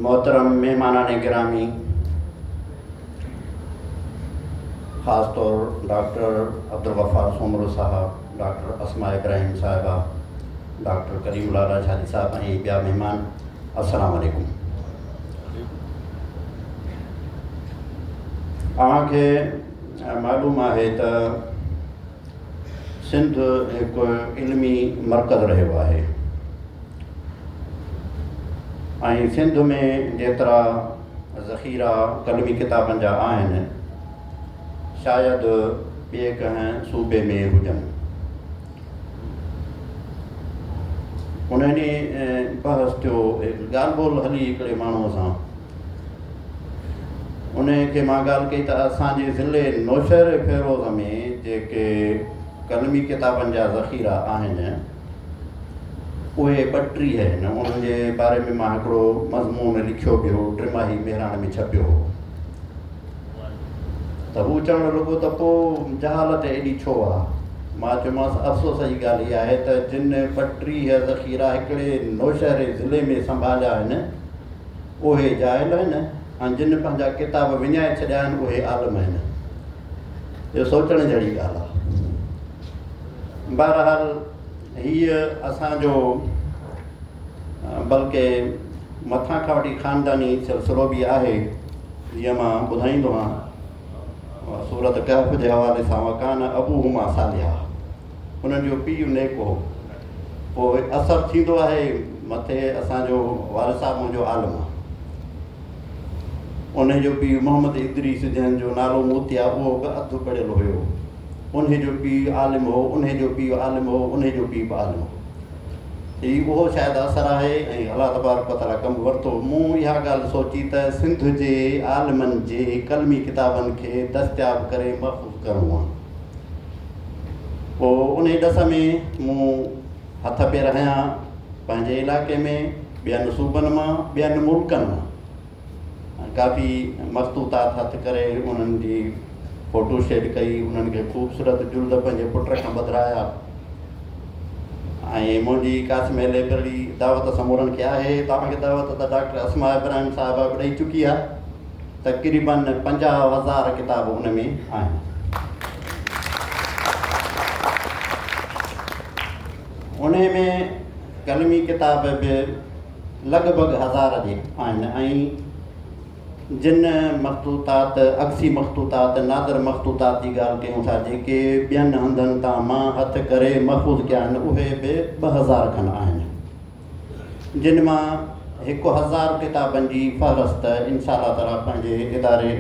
محترم مهمانان گرامي خاص طور ڊاڪٽر عبدالغفار سومرو صاحب، ڊاڪٽر اسماء ابراهيم صاحبه، ڊاڪٽر ڪريم الله راجهاري صاحب ۽ ٻيا مهمان السلام عليڪم. اوهان کي معلوم آهي ته سنڌ هڪ علمي مرڪز رهيو آهي ۽ سنڌ ۾ جيترا ذخيرا قلمي ڪتابن جا آهن شايد ٻئي ڪنهن صوبي ۾ هجن انهن بحث ٿيو ڳالهه ٻولهه هلي هڪڙي ماڻهوء سان انهيء کي مان ڳالهه ڪئي ته اسان جي ضلعي نوشهر فيروز ۾ جيڪي قلمي ڪتابن جا ذخيرا آهن اهي ٻٽيهه آهن انهن جي باري ۾ مان هڪڙو مضمون لکيو به هو ٽماهي مهراڻ ۾ ڇپيو هو ته هو چوڻ لڳو ته پوء جهالت ايڏي ڇو آ مان چيومانس افسوس جي ڳالهه هي آهي ته جن ٻٽيهه ذخيرا هڪڙي نوشهري ضلعي ۾ سنڀاليا آهن اهي جاهل آهن ۽ جن پنهنجا ڪتاب وڃائي ڇڏيا آهن اهي عالم آهن اهو سوچڻ جهڙي ڳالهه آهي بهرحال هيء اسانجو بلڪه مٿان کان وٺي خانداني سلسلو به آهي جيئن مان ٻڌائيندو آهيان سورت ڪهف جي حوالي سان وڪان ابو هما صالحا انهن جو پيء نيڪ هو. پوء اثر ٿيندو آهي مٿي اسان جو وارث صاحب منهنجو عالم آهي. انهي جو پيء محمد ادريس جنهن جو نالو موتيا اهو به اڌ پڙهيل هيو. انهي جو پيء عالم هو، انهي جو پيء عالم هو، انهي جو پيء به عالم هو. هي اهو شايد اثر آهي ۽ الله تبارڪ و تعاليٰ ڪم ورتو. مون اها ڳالهه سوچي ته سنڌ جي عالمن جي قلمي ڪتابن کي دستياب ڪري محفوظ ڪرڻو آهي. پوء انهي ڏس ۾ مون هٿ پير هنيا، پنهنجي علائقي ۾ ٻين صوبن مان، ٻين ملڪن مان ڪافي مخطوطات هٿ ڪري انهن جي فوٽو شيڊ ڪئي، انهن کي خوبصورت جلد پنهنجي پٽ کان ٻڌرايا ۽ منهنجي قاسمي لئبرري دعوت سمورن کي آهي، توهان کي دعوت ته ڊاڪٽر اسماء ابراهيم صاحبه به ڏئي چڪي آهي. تقريبن پنجاهه هزار ڪتاب ان ۾ آهن. انهي ۾ قلمي ڪتاب به لڳ ڀڳ هزار جي آهن ۽ جن مخطوطات، عڪسي مخطوطات، نادر مخطوطات جي ڳالهه ڪيون ٿا جيڪي ٻين هنڌن تان مان هٿ ڪري محفوظ ڪيا آهن اهي به ٻه هزار کن آهن. جن مان هڪ هزار ڪتابن جي فهرست انشاءالله تعاليٰ پنهنجي اداري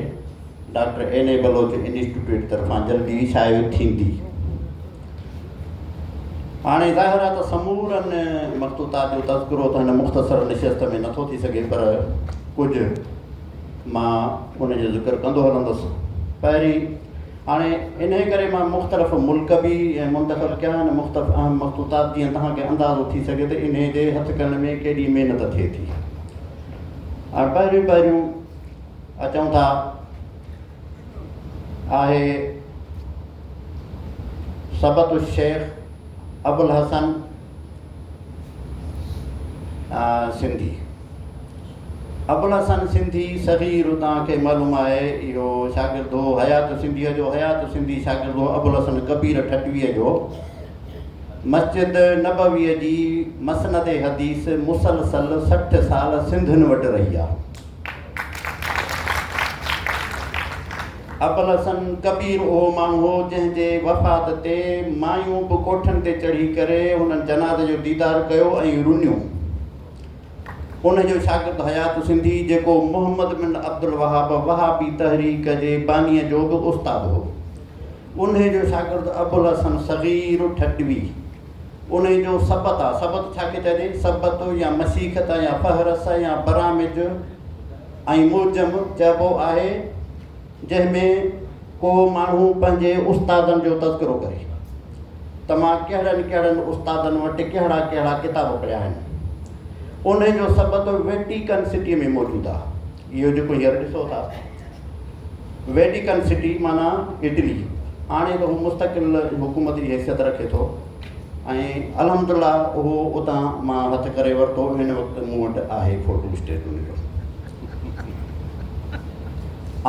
doctor N A Baloch institute طرفان جلدي شايع ٿيندي. هاڻي ظاهر آهي ته سمورن مخطوطات جو تذڪرو ته هن مختصر نشست ۾ نٿو ٿي سگهي پر ڪجهه مان ان جو ذڪر ڪندو هلندس. پهرين هاڻي انهيء ڪري مان مختلف ملڪ به منتخب ڪيا ۽ مختلف اهم مخطوطات جيئن توهان کي اندازو ٿي سگهي ته انهيء جي هٿ ڪرڻ ۾ ڪيڏي محنت ٿئي ٿي. هاڻي پهريون پهريون اچون ٿا آهي سبط الشيخ ابوالحسن سنڌي، ابوالحسن سنڌي صغير توهان کي معلوم آهي اهو شاگرد هو حيات سنڌيء جو، حيات سنڌي شاگرد هو ابوالحسن ڪبير ٺٽويء جو، مسجد نبويء جي مسند حديث مسلسل سٺ سال سنڌين وٽ رهي آهي. ابوالحسن ڪبير اهو ماڻهو هو جنهن جي وفات تي مايون به ڪوٺن تي چڙهي ڪري هنن جنازي جو ديدار ڪيو ۽ رنيون. ان جو شاگرد حيات سنڌي جيڪو محمد بن عبدالوهاب وهابي تحريڪ جي بانيء جو به استاد هو. انهي جو شاگرد ابوالحسن صغير ٺٽوي. انهي جو سبت آ، سبت ڇا کي چئجي؟ سبت يا مسيخت يا فهرس يا برامج ۽ معجم چئبو آهي جنهن ۾ ڪو ماڻهو پنهنجي استادن جو تذڪرو ڪري ته مان ڪهڙن ڪهڙن استادن وٽ ڪهڙا ڪهڙا ڪتاب پڙهيا آهن. انهي جو سبت ويٽيڪن سٽي ۾ موجود آ. اهو جيڪو هينئر ڏسو ٿا ويٽيڪن سٽي معنيٰ اٽلي هاڻي ته هو مستقل حڪومت جي حيثيت رکي ٿو ۽ الحمد لله اهو اتان مان هٿ ڪري ورتو هن وقت مون وٽ آهي فوٽو اسٽيٽ ان جو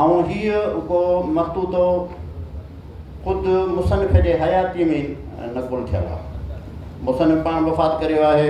۽ هيء ڪو مستوتو خود مصنف جي حياتي ۾ نقل ٿيل آهي مصنف پاڻ وفات ڪريو آهي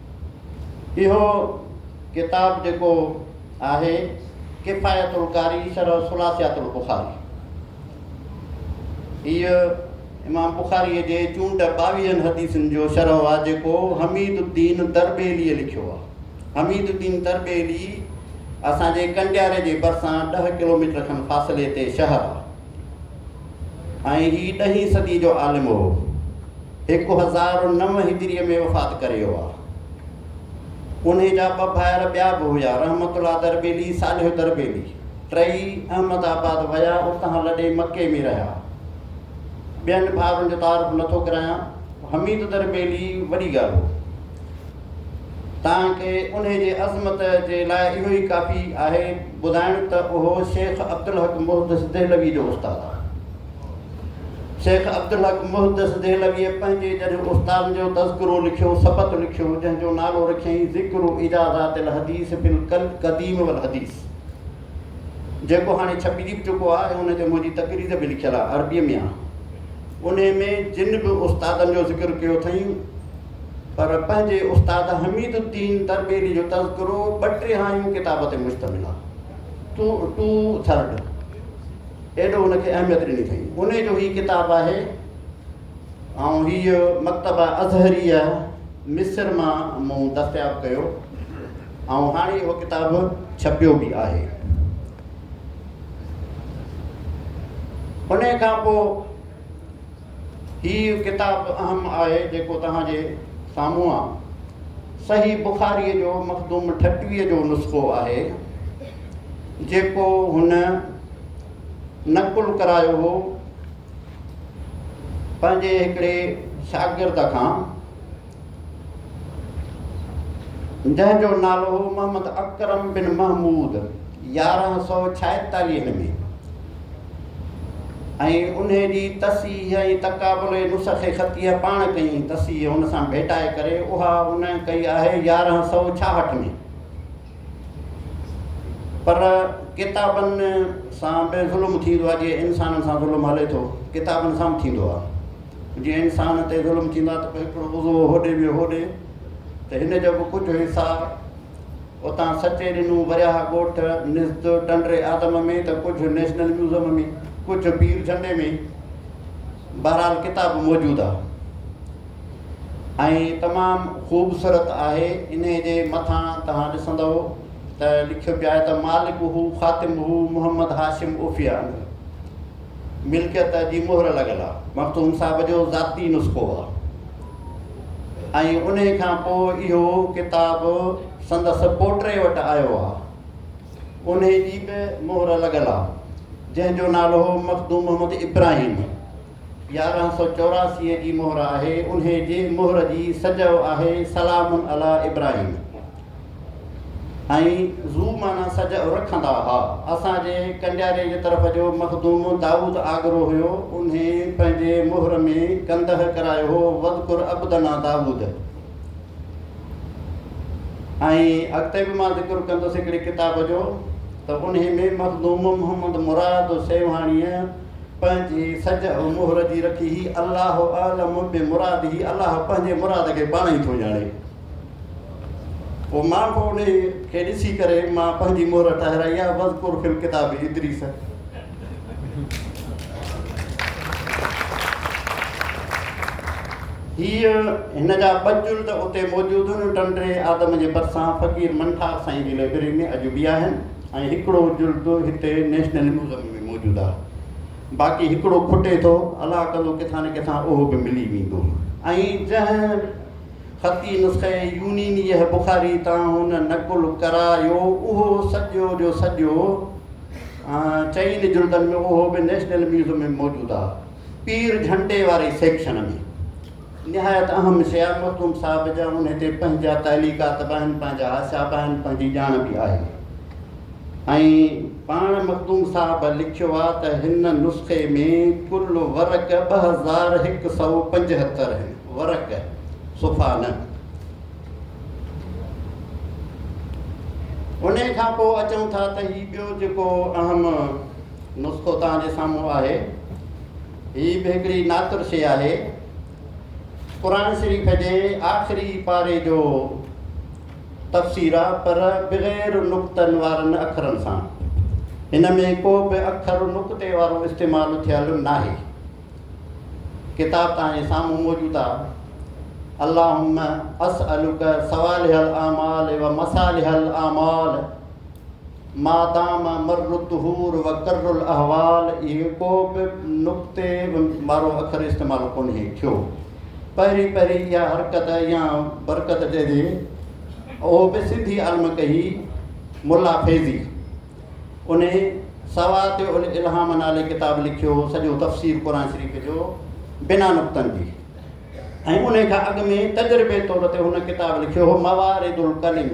اهو ڪتاب جيڪو آهي ڪفايت القاري شرح ثلاثيات البخاري هيء امام بخاري جي چونڊ ٻاويهن حديثن جو شرح آهي جيڪو حميد الدين تربيلي لکيو آهي حميد الدين تربيلي اسان جي ڪنڊياري جي ڀرسان ڏهه ڪلوميٽر کن فاصلي تي شهر آهي ۽ هي ڏهين صدي جو عالم هو. هڪ هزار و نو هجريء ۾ وفات ڪري ويو آ. انهي جا ٻه ڀائر ٻيا به هيا، رحمت الله دربيلي، صالح دربيلي. ٽئي احمد آباد ويا، اتان لڏي مڪي ۾ رهيا. ٻين ڀائرن جو تعارف نٿو ڪرايان. حميد دربيلي وڏي ڳالهه هو. تان کي انهي جي عظمت جي لاء اهو ئي ڪافي آهي ٻڌائڻ ته اهو شيخ عبدالحق محدث دهلوي جو استاد آهي. شيخ عبدالحق محدث دهلويء پنهنجي جڏهن استادن جو تذڪرو لکيو، سبت لکيو، جنهن جو نالو رکيائين ذڪر اجازات الحديث في القديم والحديث. جيڪو هاڻي ڇپجي به چڪو آهي ۽ ان تي منهنجي تقرير به لکيل آهي عربيء ۾ آهي. انهيء ۾ جن به استادن جو ذڪر ڪيو اٿئين پر پنهنجي استاد حميد الدين تربيلي جو تذڪرو ٻه ٽيهايون ڪتاب تي مشتمل آهي. ٽو ٽو ٿرڊ ايڏو ان کي اهميت ڏني اٿئين. انهيء جو هي ڪتاب آهي ۽ هيء مڪتبه ازهريه مصر مان مون دستياب ڪيو. ۽ هاڻي اهو ڪتاب ڇپيو به آهي. انهيء کان پوء هي ڪتاب به اهم آهي جيڪو توهان جي سامهون آ. صحيح بخاريء جو مخدوم ٺٽويء جو نسخو آهي، جيڪو هن نقل ڪرايو هو پنهنجي هڪڙي شاگرد کان. جنهن جو نالو هو محمد اڪرم بن محمود يارهن سؤ ڇائيتاليهه ۾ ۽ ان جي تصحيح ۽ تقابل نسخ خطيه پاڻ ڪئي ۽ تصحيح هن سان ڀيٽائي ڪري اها هن ڪئي آهي يارهن سؤ ڇاهٺ ۾ پر ڪتابن سان به ظلم ٿيندو آهي جي انسانن سان ظلم هلي ٿو ڪتابن سان به ٿيندو آهي جي انسان تي ظلم ٿيندو آهي ته پوء هڪڙو عضو هوڏي ٻيو هوڏي ته هن جو به ڪجهه حصا اتان سچي ڏنو ورياها ڳوٺ نزد ٽنڊري آدم ۾ ته ڪجهه نيشنل ميوزم ۾ ڪجهه پير جهنڊي ۾ بهرحال ڪتاب موجود آهي ۽ تمام خوبصورت آهي انهي جي مٿان توهان ڏسندئو ته لکيو پيو آهي ته مالڪه خاتمه محمد هاشم عوفي انگ ملڪيت جي مهر لڳل آ مخدوم صاحب جو ذاتي نسخو آ ۽ انهي کان پوء اهو ڪتاب سندس پوٽي وٽ آيو آ انهي جي به مهر لڳل آ جنهن جو نالو هو مخدوم محمد ابراهيم يارهن سؤ چوراسي جي مهر آهي، انهي جي مهر جي سجئو آهي سلام علي ابراهيم ۽ ذو معنيٰ سجئو رکندا ها. اسان جي ڪنڊياري جي طرف جو مخدوم دائود آگرو هيو، انهي پنهنجي مهر ۾ ڪنده ڪرايو هو واذڪر عبدنا داود ۽ اڳتي به مان ذڪر ڪندس هڪڙي ڪتاب جو ته انهي ۾ مخدوم محمد مراد سيوهاڻيء پنهنجي سجهه مهر جي رکي هي الله اعلم بمراده الله پنهنجي مراد کي پاڻ ئي ٿو ڄاڻي پوء مان به ان کي ڏسي ڪري مان پنهنجي مهر ٺهرائي آ وذڪر في الڪتاب ادريس هي هن جا ٻه جلد اتي موجود آهن ٽنڊي آدم جي ڀرسان فقير منٺار سائين جي لائبرري ۾ اڄ به آهن ۽ هڪڙو جلد هتي نيشنل ميوزم ۾ موجود آهي باقي هڪڙو کٽي ٿو الله ڪندو ڪٿان نه ڪٿان اهو به ملي ويندو ۽ جنهن خطي نسخي يونينيه بخاري تان هن نقل ڪرايو اهو سڄو جو سڄو چئن جلدن ۾ اهو به نيشنل ميوزم ۾ موجود آهي پير جهنڊي واري سيڪشن ۾. نهايت اهم شيء مخدوم صاحب جا انهي تي پنهنجا تعليقات به آهن، پنهنجا حاشا به آهن، پنهنجي ڄاڻ به آهي ۽ پاڻ مخدوم صاحب لکيو آ ته هن نسخي ۾ ڪل ورق ٻه هزار هڪ سئو پنجهتر هن، ورق، صفحا نه. انهي کان پوء اچون ٿا ته هي ٻيو جيڪو اهم نسخو توهان جي سامهون آهي، هي به هڪڙي ناتر شيء آهي. قرآن شريف جي آخري پاري جو تفسير آ پر بغير نقطن وارن اکرن سان. هن ۾ ڪو به اکر نقطي وارو استعمال ٿيل ناهي. ڪتاب توهان سامهون موجود آ. اللهم اسألک صوالح الاعمال و مصالح الاعمال. مادام مر الدهور و کر الاحوال اهي ڪو به نقطي وارو اکر استعمال ڪونهي ٿيو. پهرين پهرين اها حرڪت يا برڪت چئجي اهو به سنڌي عالم ڪئي ملا فيضي انهي سوات الالهام نالي ڪتاب لکيو سڄو تفسير قرآن شريف جو بنا نقطن جي ۽ انهي کان اڳ ۾ تجربي طور تي هن ڪتاب لکيو هو موارد الڪلم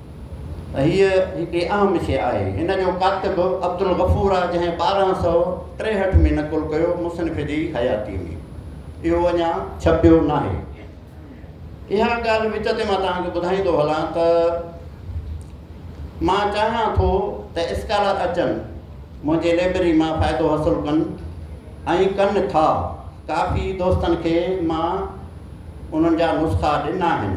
هيء هڪ اهم شيء آهي. هن جو ڪاتب عبدالغفور آهي، جنهن ٻارهن سؤ ٽيهٺ ۾ نقل ڪيو، مصنف جي حياتيء ۾ اهو اڃا ڇپيو ناهي. اها ڳالهه وچ تي مان توهان کي ٻڌائيندو هلان ته مان چاهيان ٿو ته اسڪالر اچن، منهنجي لئبرري مان فائدو حاصل ڪن ۽ ڪن ٿا. ڪافي دوستن کي مان انهن جا نسخا ڏنا آهن.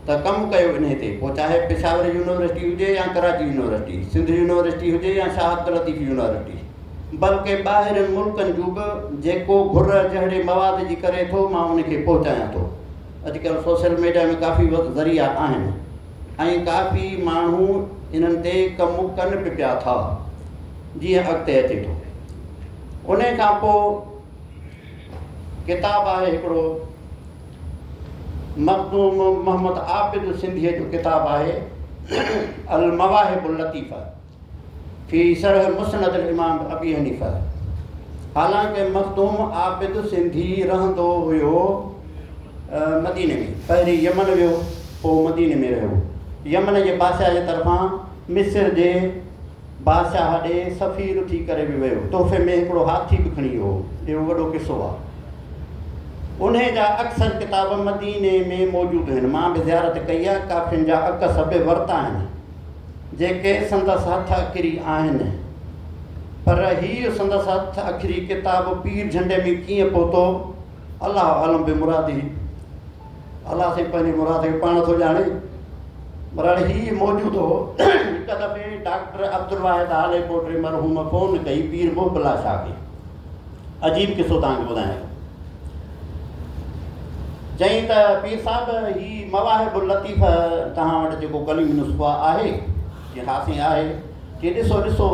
ته ڪم ڪيو انهي تي پوء چاهي پشاور يونيورسٽي هجي يا ڪراچي يونيورسٽي، سنڌ يونيورسٽي هجي يا شاهه عبداللطيف يونيورسٽي بلڪه ٻاهرين ملڪن جون به جيڪو گهر جهڙي مواد جي ڪري ٿو مان ان کي پهچايان ٿو اڄڪلهه سوشل ميڊيا ۾ ڪافي ذريعا آهن ۽ ڪافي ماڻهو انهن تي ڪم ڪن به پيا ٿا جيئن اڳتي اچي ٿو انهي کان پوء ڪتاب آهي هڪڙو مخدوم محمد عابد سنڌيء جو ڪتاب آهي المواهب اللطيفه في شرح مسند الامام ابي حنيفه حالانڪه مخدوم عابد سنڌي رهندو هيو مديني ۾ پهرين يمن ويو پوء مديني ۾ رهيو يمن جي بادشاهه جي طرفان مصر جي بادشاهه ڏي سفير ٿي ڪري به ويو. تحفي ۾ هڪڙو هاٿي به کڻي ويو هو. اهو وڏو قصو آهي. انهيء جا اڪثر ڪتاب مديني ۾ موجود آهن. مان به زيارت ڪئي آهي. ڪافين جا عڪس به ورتا آهن، جيڪي سندس هٿ اکري آهن. پر هيء سندس هٿ اکري ڪتاب پير جهنڊي ۾ ڪيئن پهتو، الله عالم بمرادي. ڀلا سائين پنهنجي مراد کي پاڻ ٿو ڄاڻي. برحال هي موجود هو. هڪ دفعي ڊاڪٽر عبدالواحد هالي ڪوٽري مرحوم فون ڪئي پير محب الله شاهه کي. عجيب قصو توهان کي ٻڌايان ٿو. چيائين ته پير صاحب هي مواهب اللطيف توهان وٽ جيڪو ڪليم نسخو آهي؟ چيائين ها سائين آهي. چيائين ڏسو ڏسو